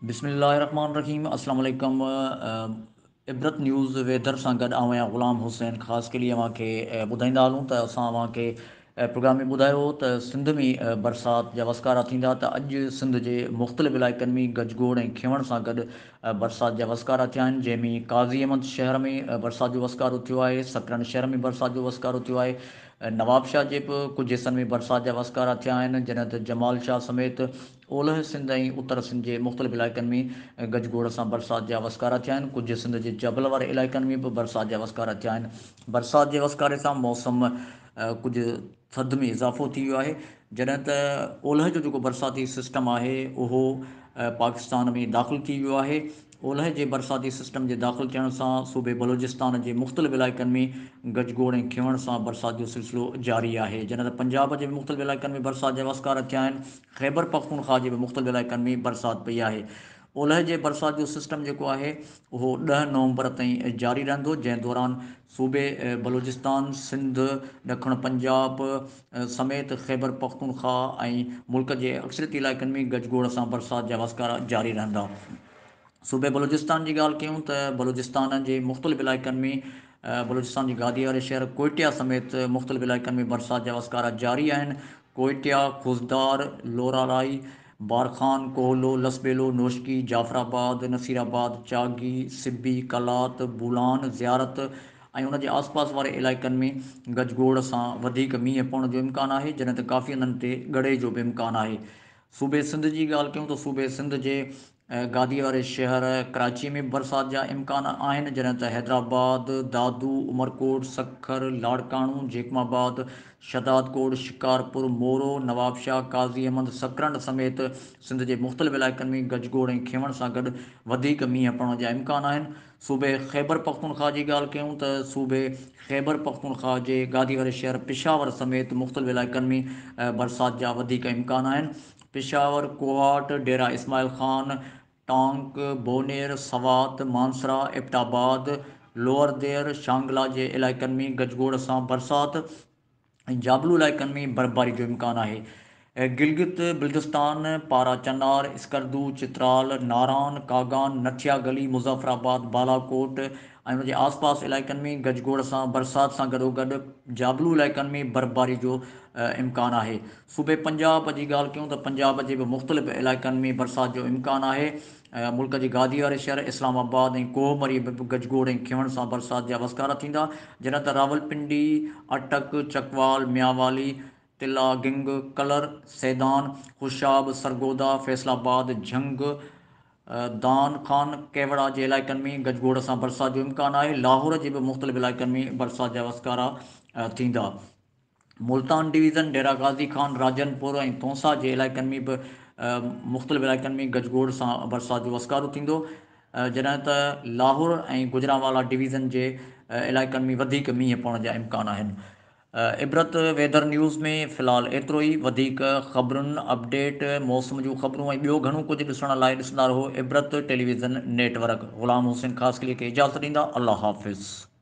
بسم الله الرحمن الرحيم اسلام عليڪم عبرت نيوز ويدر سان گڏ آئون آهيان غلام حسين خاص قلي اوهان کي ٻڌائيندا هلون ته اسان اوهان کي پروگرام ۾ ٻڌايو هو ته سنڌ ۾ برسات جا وسڪارا ٿيندا ته اڄ سنڌ جي مختلف علائقن ۾ گج گوڙ ۽ کينوڻ سان گڏ برسات جا وسڪارا ٿيا آهن جنهن ۾ قاضي احمد شهر ۾ برسات جو وسڪارو ٿيو آهي سڪرنڊ شهر ۾ برسات جو وسڪارو ٿيو آهي نوابشاهه جي به ڪجهه حصن ۾ برسات جا وسڪارا ٿيا آهن جڏهن ته جمال شاهه سميت اولهه سنڌ ۽ اتر سنڌ جي مختلف علائقن ۾ گج گوڙ سان برسات جا وسڪارا ٿيا آهن ڪجهه سنڌ جي جبل واري علائقن ۾ به برسات جا وسڪارا ٿيا آهن برسات جي وسڪاري سان موسم ڪجهه ٿڌ ۾ اضافو ٿي ويو آهي جڏهن ته اولهه جو جيڪو برساتي سسٽم آهي اهو پاڪستان ۾ داخل ٿي ويو آهي اولهه جي برساتي سسٽم جي داخل ٿيڻ سان صوبي بلوچستان جي مختلف علائقن ۾ گجگوڙ ۽ کيوڻ سان برسات جو سلسلو جاري آهي جڏهن ته پنجاب جي به مختلف علائقن ۾ برسات جا وسڪار ٿيا آهن خيبر پختونخواه جي به مختلف علائقن ۾ برسات پئي آهي اولهه جي برسات جو سسٽم جيڪو آهي اهو ڏهه نومبر تائين جاري رهندو جنهن دوران صوبي بلوچستان، سنڌ، ڏکڻ پنجاب سميت خيبر پختونخوا ۽ ملڪ جي اڪثريت علائقن ۾ گج گوڙ سان برسات جا وسڪارا جاري رهندا. صوبي بلوچستان جي ڳالهه ڪيون ته بلوچستان جي مختلف علائقن ۾ بلوچستان جي گادي واري شهر ڪوئٽيا سميت مختلف علائقن ۾ برسات جا وسڪارا جاري آهن، ڪوئٽيا، خضدار، لوراڙائي، بارخان، ڪوهلو، لسٻيلو، نوشڪي، جعفر آباد، نصير آباد، چاگي، سبي، قلات، بولان، زيارت ۽ ان جي آس پاس واري علائقن ۾ گج گوڙ سان وڌيڪ مينهن پوڻ جو امڪان آهي جڏهن ته ڪافي هنڌن تي ڳڙي جو به امڪان آهي صوبي سنڌ جي ڳالهه ڪيون ته صوبي سنڌ جي گاديء واري شهر ڪراچيء ۾ به برسات جا امڪان آهن، جڏهن ته حيدرآباد، دادو، عمرڪوٽ، سکر، لاڙڪاڻو، جيڪب آباد، شهدادڪوٽ، شڪارپور، مورو، نوابشاهه، قاضي احمد، سڪرنڊ سميت سنڌ جي مختلف علائقن ۾ گجگوڙ ۽ کينوڻ سان گڏ وڌيڪ مينهن پوڻ جا امڪان آهن. صوبي خيبرپختونخوا جي ڳالهه ڪيون ته صوبي خيبرپختونخوا جي گادي واري شهر پشاور سميت مختلف علائقن ۾ برسات جا وڌيڪ امڪان آهن. پشاور، ڪوهاٽ، ڊيرا اسماعيل خان، ٽانڪ، بونير، سوات، مانسرا، ايبٽ آباد، لوئر دير، شانگلا جي علائقن ۾ گج گوڙ سان برسات ۽ جابلو علائقن ۾ برفباري جو امڪان آهي. گلگت بلتستان، پارا چنار، اسڪردو، چترال، ناران، ڪاگان، نٿيا گلي، مظفر آباد، بالاڪوٽ ۽ ان جي آس پاس علائقن ۾ گج گوڙ سان برسات سان گڏوگڏ جابلو علائقن ۾ برفباري جو امڪان آهي. صوبي پنجاب جي ڳالهه ڪيون ته پنجاب جي به مختلف علائقن ۾ برسات جو امڪان آهي، ملڪ جي گادي واري شهر اسلام آباد ۽ ڪوهه مري ۾ به گجگوڙ ۽ کيون سان برسات جا وسڪارا ٿيندا، جڏهن ته راولپنڊي، اٽڪ، چڪوال، ميانوالي، تلا گنگ، ڪلر، سيدان، خوشاب، سرگودا، فيصل آباد، جهنگ، دان خان، ڪيوڙا جي علائقن ۾ گجگوڙ سان برسات جو امڪان آهي، لاهور جي به مختلف علائقن ۾ برسات جا وسڪارا ٿيندا. ملتان ڊويزن، ڊيرا غازي خان، راجن پور ۽ تونسا جي علائقن ۾ به مختلف علائقن ۾ گجگوڙ سان برسات جو وسڪارو ٿيندو، جڏهن ته لاهور ۽ گجرانوالا ڊويزن جي علائقن ۾ وڌيڪ مينهن پوڻ جا امڪان آهن. عبرت ويڌر نيوز ۾ في الحال ايترو ئي، وڌيڪ خبرن، اپڊيٽ، موسم جون خبرون ۽ ٻيو گهڻو ڪجهه ڏسڻ لاء ڏسندا رهو Ibrat television network. Ghulam Hussain Khaskheli کي اجازت ڏيندا. الله حافظ.